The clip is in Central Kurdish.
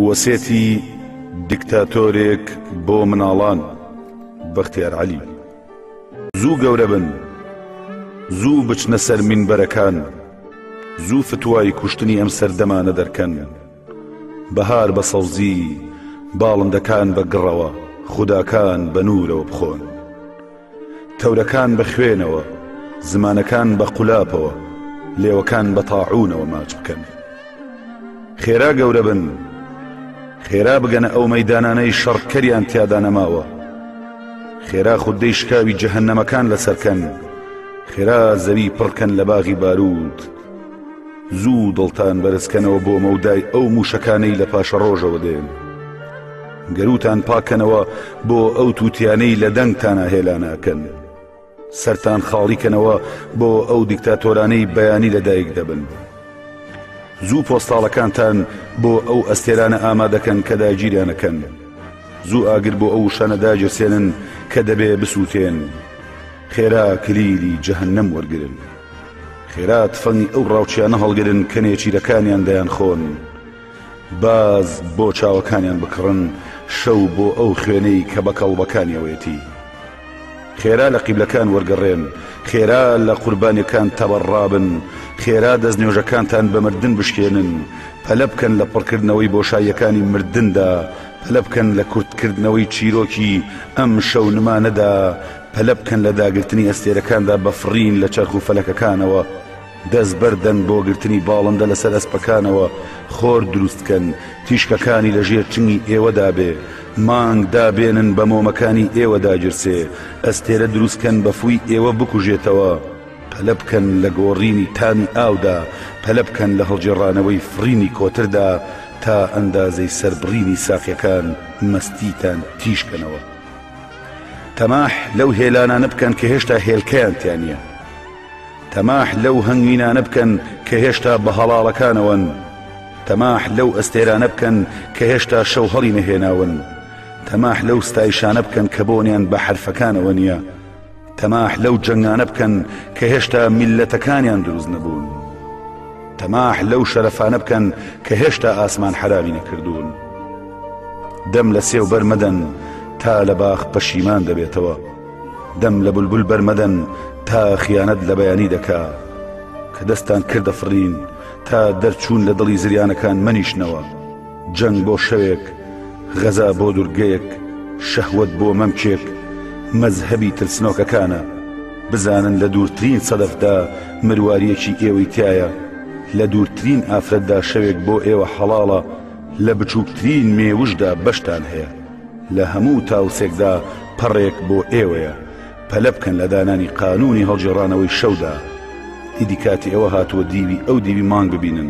وەسێتی دیکتاتۆرێک بۆ مناڵان بەختیار عەلی زوو گەورە بن زوو بچنە سەر مینبەرەکان زوو فتوای کوشتنی ئەم سەردەمانە دەرکەن بەهار بە سەوزی، باڵندەکان بە گڕەوە، خوداکان بە نوورەوە بخۆن. تەورەکان بە خوێنەوە، زمانەکان بە قولاپەوە، لێوەکان بە تاعوونەوە ماچ بکەن. خێرا گەورە بن، خێرا بگەنە ئەو مەیدانانەی شەڕ کەریان تیادا نەماوە. خێرا خوددەی شکاوی جەهەنەمەکان لەسەرکەن، خێرا زەوی پڕکەن لە باغی بارووت. زوو دڵتان بەرزکەنەوە بۆ مەودای ئەو موشەکانەی لە پاشەڕۆژەوە دێن گەروتان پاکەنەوە بۆ ئەو تووتیانەی لە دەنگتانە هێلاناکەن سەران خاڵیکەنەوە بۆ ئەو دیکتاتۆرانەی بەیانی لەدایک دەبن زوو پۆستاڵەکانتان بۆ ئەو ئەستێرانە ئامادەکەن کە داگیریانەکەن زوو ئاگر بۆ ئەو شانە داگیرسێنن کە دەبێ بسووتێن خێرا کلیلی جەهنم وەرگن. خێرا تفەنگی ئەو ڕاوچیانە هەڵگرن کە نێچیرەکانیان دەیانخۆن، باز بۆ چاوەکانیان بکڕن شەو بۆ ئەو خوێنەی کە بە کەڵبەکانیەوەیەتی. خێرا لە قیبلەکان وەرگەڕێن، خێرا لە قوربانیەکان تەبەڕابن، خێرا دەستنوێژەکانتان بە مردن بشکێنن، پەلە بکەن لە پڕکردنەوەی بۆشاییەکانی مردندا، پەلە بکەن لە کورتکردنەوەی چیرۆکی ئەم شەو نمانەدا، پەلە بکەن لە داگرتنی ئەستێرەکاندا بە فڕین لە چەرخ و فەلەکەکانەوە دەست بەردەن بۆ گرتنی باڵندە لەسەر ئەسپەکانەوە خۆر دروستکەن تیشکەکانی لە ژێر چنگی ئێوەدا بێ مانگ دابێنن بە مۆمەکانی ئێوە داگیرسێ ئەستێرە دروستکەن بە فووی ئێوە بکوژێتەوە پەلە بکەن لە گۆڕینی تامی ئاودا پەلە بکەن لە هەڵگێڕانەوەی فڕینی کۆتردا تا ئەندازەی سەربڕینی ساقیەکان مەستیتان تیشکەنەوە. تەماح لەو هێلانانە بکەن کە هێشتا هێلکەیان تیا نییە تەماح لەو هەنگوینانە بکەن کە هێشتا بە هەڵاڵەکانەوەن تەماح لەو ئەستێرانە بکەن کە هێشتا شەو هەڵی نەهێناون تەماح لەو ستایشانە بکەن کە بۆنیان بە حرفەکانەوە نییە تەماح لەو جەنگانە بکەن کە هێشتا میللەتەکانیان دروست نەبوون تەماح لەو شەرەفانە بکەن کە هێشتا ئاسمان حرامی نەکردوون دەم لە سێو بەرمەدەن تا لە باخ پەشیمان دەبێتەوە دەم لە بولبول بەرمەدەن تا خیانەت لە بەیانی دەکا کە دەستان کردە فڕین تا دەرچوون لە دڵی زریانەکان منیشنەوە جەنگ بۆ شەوێک، غەزا بۆ دورگەیەک، شەهوەت بۆ مەمکێک، مەزهەبی ترسنۆکەکانە. بزانن لە دوورترین سەدەفدا مروارییەکی ئێوەی تیایە، لە دوورترین ئافرەتدا شەوێک بۆ ئێوە حەڵاڵە، لە بچووکترین مێوژدا بەشتان هەیە، لە هەموو تاوسێکدا پەڕێک بۆ ئێوەیە، پەلە بکەن لە دانانی قانوونی هەڵگێڕانەوەی شەودا. ئیدی کاتی ئەوە هاتووە دیوی ئەو دیوی مانگ ببینن.